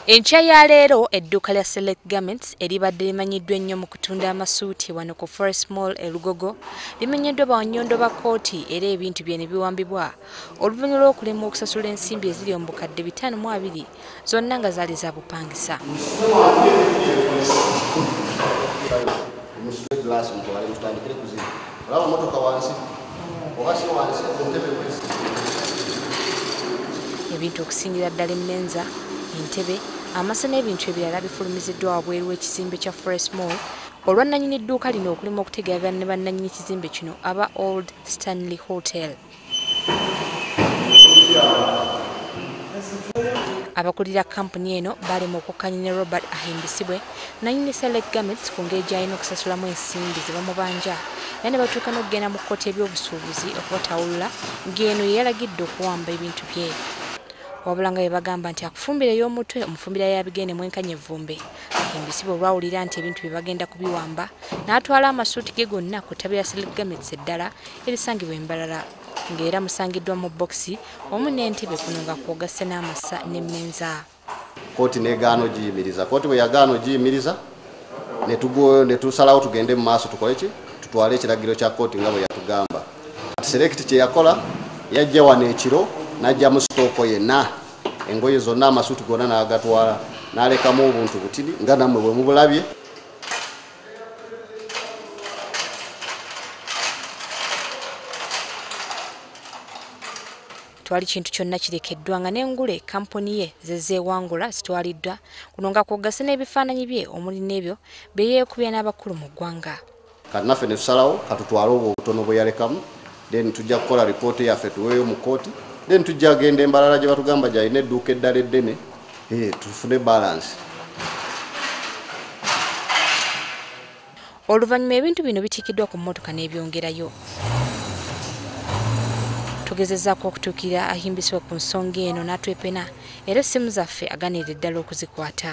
enkya ya leero edduuka lya select garments eribadde limanyiddwa ennyo mu kutunda amasuuti wano ku forest mall e lugogo limenyeddwa bawannyondo ba kkooti era ebintu bye ne biwambibwa oluvannyuma lw'okulemwa okusasula ensimbi eziri omu bukadde bitaano mu abiri zonna nga zaali za bupangisa ebintu okusingira ddala emmenza entebe amasa n'ebintu ebirala bifulumiziddwa wabweru w'ekizimbe kya fresh mall olwannanyini dduuka lino okulima okutegeagana ne bannanyini kizimbe kino aba old stanley hotel abakulira kampuni eno balema okukkanya ne robert ahimbisibwe nanyini selek gamets ku ngeri gy'alina okusasulamu ensimbi ze bamubanja era ne batuuka n'okugenda mu kkooti ebyobusuubuzi okubatawulula ng'eno ye yalagidde okuwamba ebintu bye wabula nga yebagamba nti akufumbira ey'omutwe omufumbira yabigende mwenkanya evvumbe ahimbisibwe olwawulira nti ebintu bye bagenda kubiwamba n'atwala amasuuti ge gonna ku ttabi lya selek gamets eddala erisangibwa e Mbarara ng'era musangiddwa mu bbokisi wamu n'entebe kuno nga kwogasse n'amasa n'emmenza kooti negaana ogiyimiriza kooti bwe yagaana ogiyimiriza ne tusalawo tugende mu maaso tukole ki tutwale ekiragiro kya kooti nga bwe yatugamba kati selekiti kye yakola yajja wano ekiro n'ajja mu sitooko yenna engoye zonna amasuuti gonna n'agatwala n'alekamu obuntu butini nga nammwe bwe mubulabye twali kintu kyonna kirekeddwa nga n'engule kampuni ye zezeewangula zitwaliddwa kuno nga kwogase n'ebifaananyi bye omuli n'ebyo bye yeekubya n'abakulu mu ggwanga kati naffe ne tusalawo katutwale obwo obutono bwe yalekamu then tujja kukola report yaffe tuweeyo mu kooti then tujja genda embalala gye batugamba gyalina edduuka eddala eddene eh, tufune balance oluvannyuma ebintu bino bitikiddwa ku mmotoka n'ebyongerayo tugezezaako okutuukirira ahimbisibwa ku nsonga eno n'atwepena era essimu zaffe aganirira ddala okuzikwata